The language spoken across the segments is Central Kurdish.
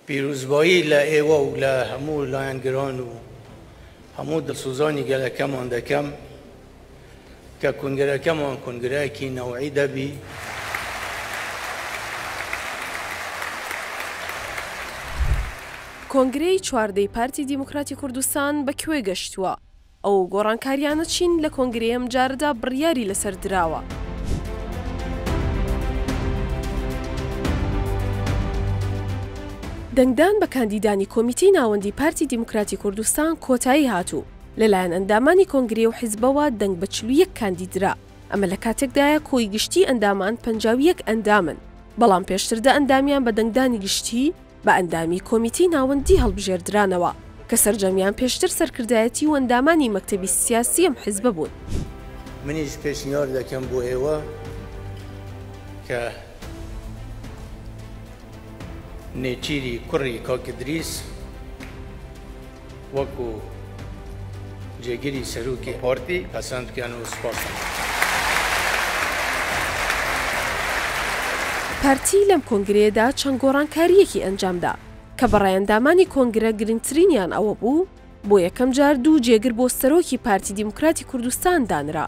پیرۆزبایی لە ئێوە و لە هەموو لایەنگران و هەموو دڵسۆزانی گەلەکەمان دەکەم کە کونگرەکەمان کونگرەیەکی نەوعی دەبی. کۆنگرەی چواردەی پارتی دیموکراتی کوردستان بە کوێ گەشتووە؟ ئەو گۆڕانکاریانە چین لە کۆنگرەی ئەم جارەدا بڕیاری لەسەر دراوە؟ دەنگدان بە کاندیدانی کۆمیتەی ناوەندی پارتی دیموکراتی کوردستان کۆتایی هات و لەلایەن ئەندامانی کۆنگرەی و حزبەوە دەنگ بە چل و یەک کاندید درا، ئەمە لە کاتێکدایە کۆی گشتی ئەندامان پەنجا و یەک ئەندامن، بەڵام پێشتر دە ئەندامیان بە دەنگدانی گشتی، بە ئەندامی کۆمیتەی ناوەندی هەڵبژێردرانەوە، کە سەرجەمیان پێشتر سەرکردایەتی و ئەندامانی مەکتەبی سیاسی ئەم حزبە بوون. منیش پێشنیار دەکەم بۆ ئێوە کە نێچیری کوڕی کاک ئیدریس، وەکو جێگری سەرۆکی پارتی پەسەند بکەن و سوپاستان لێ بکەن. پارتی لەم کۆنگرەیەدا چەند گۆڕانکارییەکی ئەنجامدا، کە بەڕای ئەندامانی کۆنگرە گرنگترینیان ئەوەبوو، بۆ یەکەمجار دوو جێگر بۆ سەرۆکی پارتی دیموکراتی کوردستان دانرا،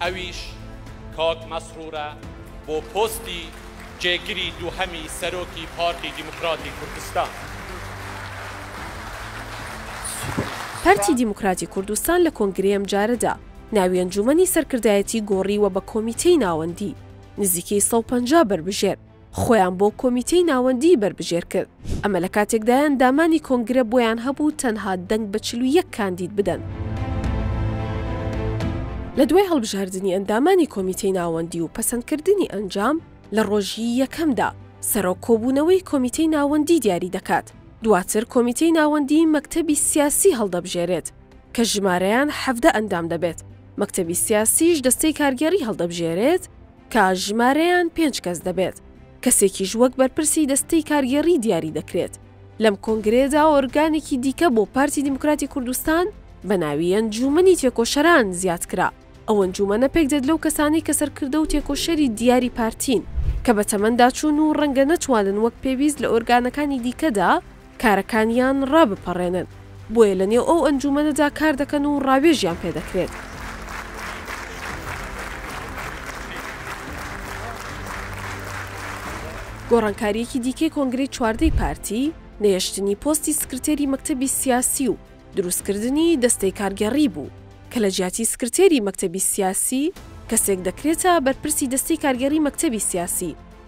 ئەویش کاک مەسرورە بۆ پۆستی جێگری دووهەمی سەرۆکی پارتی دیموکراتی کوردستان. پارتی دیموکراتی کوردستان لە کۆنگرەی ئەمجارەدا، ناوی ئەنجوومەنی سەرکردایەتی گۆڕیوە بە کۆمیتەی ناوەندی، نزیکەی سەد و پەنجا بەربژێر، خۆیان بۆ کۆمیتەی ناوەندیی بەربژێر کرد، ئەمە لە کاتێکدایە ئەندامانی کۆنگرە بۆیان هەبوو تەنها دەنگ بە چل و یەک کاندید بدەن. لە دوای هەڵبژاردنی ئەندامانی کۆمیتەی ناوەندی و پەسەندکردنی ئەنجام، لە ڕۆژی یەکەمدا، سەرۆک کۆبوونەوەی کۆمیتەی ناوەندی دیاری دەکات، دواتر کۆمیتەی ناوەندیی مەکتەبی سیاسی هەڵدەبژێرێت، کە ژمارەیان حەڤدە ئەندام دەبێت، مەکتەبی سیاسیش دەستەی کارگێڕی هەڵدەبژێرێت، کە ژمارەیان پێنج کەس دەبێت، کەسێکیش وەک بەرپرسی دەستەی کارگێڕی دیاری دەکرێت، لەم کۆنگرەیەدا ئۆرگانێکی دیکە بۆ پارتی دیموکراتی کوردستان بە ناوی ئەنجوومەنی تێکۆشەران زیاد کرا، ئەو ئەنجوومەنە پێکدێت لەو کەسانەی کە سەرکردە و تێکۆشەری دیاری پارتین، کە بە تەمەنداچوون و ڕەنگە نەتوانن وەک پێویست لە ئۆرگانەکانی دیکەدا کارەکانیان ڕابپەڕێنن، بۆیە لەنێو ئەو ئەنجوومەنەدا کار دەکەن و ڕاوێژیان پێ دەکرێت. گۆڕانکارییەکی دیکەی کۆنگرەی چواردەی پارتی، نەهێشتنی پۆستی سکرتێری مەکتەبی سیاسی و دروستکردنی دەستەی کارگێڕی بوو، کە لە جیاتی سکرتێری مەکتەبی سیاسی، کەسێک دەکرێتە بەرپرسی دەستەی کارگێڕی مەکتەبی سیاسی،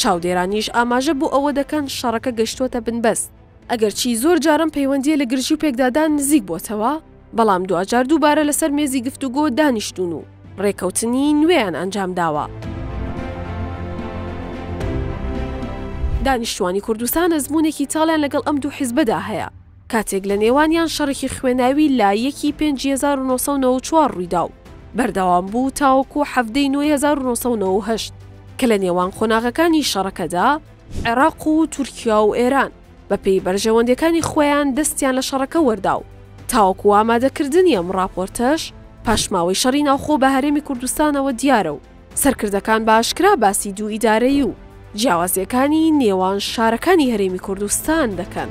چاودێرانیش ئاماژە بۆ ئەوە دەکەن شەڕەکە گەشتووەتە بنبەست، ئەگەرچی زۆر جار ئەم پەیوەندییە لە گرژی و پێکدادان نزیک بۆتەوە، بەڵام دواجار دووبارە لەسەر مێزی گفتوگۆ دانیشتوون و ڕێککەوتنی نوێیان ئەنجام داوە. دانیشتووانی کوردستان ئەزموونێکی تاڵیان لەگەڵ ئەم دوو حیزبەدا هەیە، کاتێک لە نێوانیان شەڕێکی خوێناوی لە یەکی پێنجی هەزار و نۆ سەد و نەوەد و چوار ڕوویدا و بەردەوام بوو تاوەکوو حەڤدەی نۆی هەزار و نۆ سەد و نەوەد و هەشت کە لە نێوان قۆناغەکانی شەڕەکەدا عێراق و تورکیا و ئێران بە پێی بەرژەوەندیەکانی خۆیان دەستیان لە شەڕەکە وەردا و تاوەکوو ئامادەکردنی ئەم ڕاپۆرتەش پاشماوەی شەڕی ناوخۆ بە هەرێمی کوردستانەوە دیارە و سەرکردەکان بە ئاشکرا باسی دوو ئیدارەیی و جیاوازییەکانی نێوان شارەکانی هەرێمی کوردستان دەکەن.